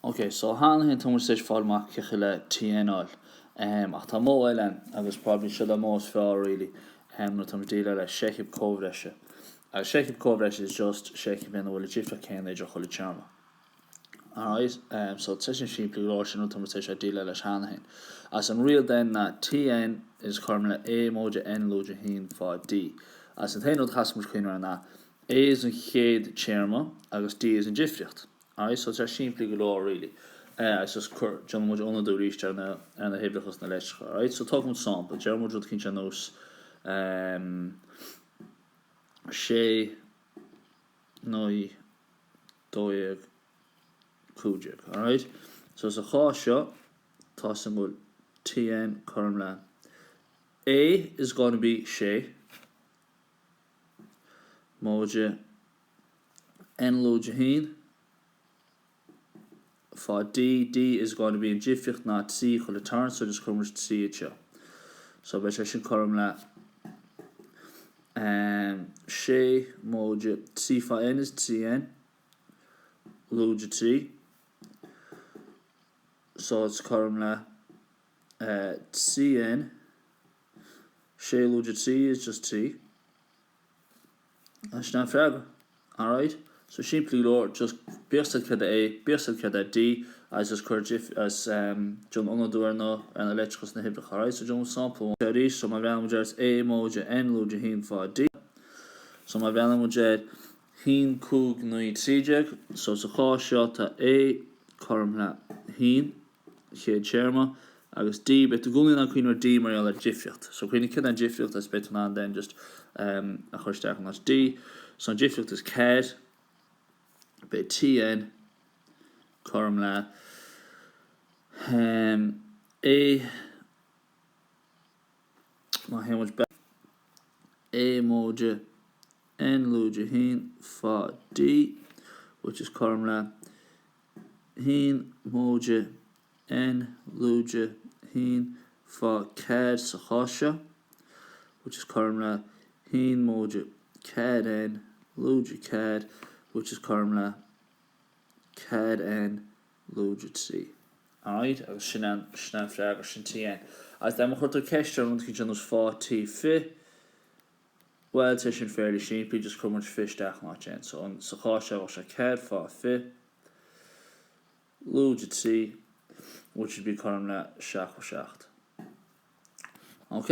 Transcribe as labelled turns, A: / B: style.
A: Ok, so cheana féin tá muid tar éis fáil amach cén chaoi le TN a fháil. Ehm, ach tá modh eile ann, agus probably seo an modh is fearr really, ehm, nuair atá muid ag déileáil le seicheamh comhbhreise. Agus seicheamh comhbhreise is just seicheamh ina bhfuil an difríocht chéanna idir chuile téarma. Alright, ehm, so tá sé sin simplí go leor sin nuair atá muid tar éis déileáil leis cheana féin. Agus an riail then ná TN is cothrom le A móide N lúide haon fá D. Agus an t-aon rud a chaithfidh muid cuimhneamh air ná A, A is an chéad téarma agus D is an difríocht. Alright, so tá simplí go leor really. Eh, is just cur, déanann muid ionadú arís ar na, ar na huimhreacha sna leitreacha. Right, so tógfaidh muid sampla, déarfaidh muid rud eicínt ar nós ehm, sé, naoi, dó dhéag, cúig déag. Alright? So sa chás seo, tá a fhios againn go bhfuil TN, cothrom le. A is going to be sé. móide N. lúide haon, fá D. D is going to be an difríocht ná trí chuile turn so D is cothrom le trí fhad seo so beidh sé sin cothrom le em sé móide trí fá N is trí N lúide trí so it's cothrom le eh, trí N Sé lúide trí is just trí. Agus sin an freagra. Alright, so simplí go leor, just bíodh a fhios agat céard é A, bíodh a fhios agat céard é D, agus just cuir dif, agus em, déan ionadú ar na, ar na leitreacha sna huimhreacha, alright, so déanfaimid sampla amháin. Seo arís, so má bhreathnaíonn muid air is A móide N lúide haon fá D, so má bhreathnaíonn muid ar haon cúig naoi trí déag, so sa chás seo tá A cothrom le haon, chéad téarma, agus D, beidh tú i gcónaí in ann cuimhneamh ar D mar gheall ar difríocht. So cuimhnigh céard é an difríocht is beidh tú in ann then just a chur isteach in áit D. So an difríocht is ceathair, beidh TN cothrom le um, A, má théann muid back, A móide, N lúide haon, fá D, which is cothrom le haon móide N lúide haon fá ceathair sa chás seo, which is cothrom le haon móide ceathair N lúide ceathair, which is cothrom le ceathair N lúide trí. Alright, agus sin an, sin an freagra sin TN. Agus déarfaidh muid chuir tú ceist orm, rud eicínt ar nós faigh T fiche, Bhuel, tá sé sin fairly simplí, just cuireann muid fiche isteach in áit N. So, an, sa chás seo, bheadh sé ceathair fá fiche lúide trí, which would be cothrom le seachtó seacht. OK?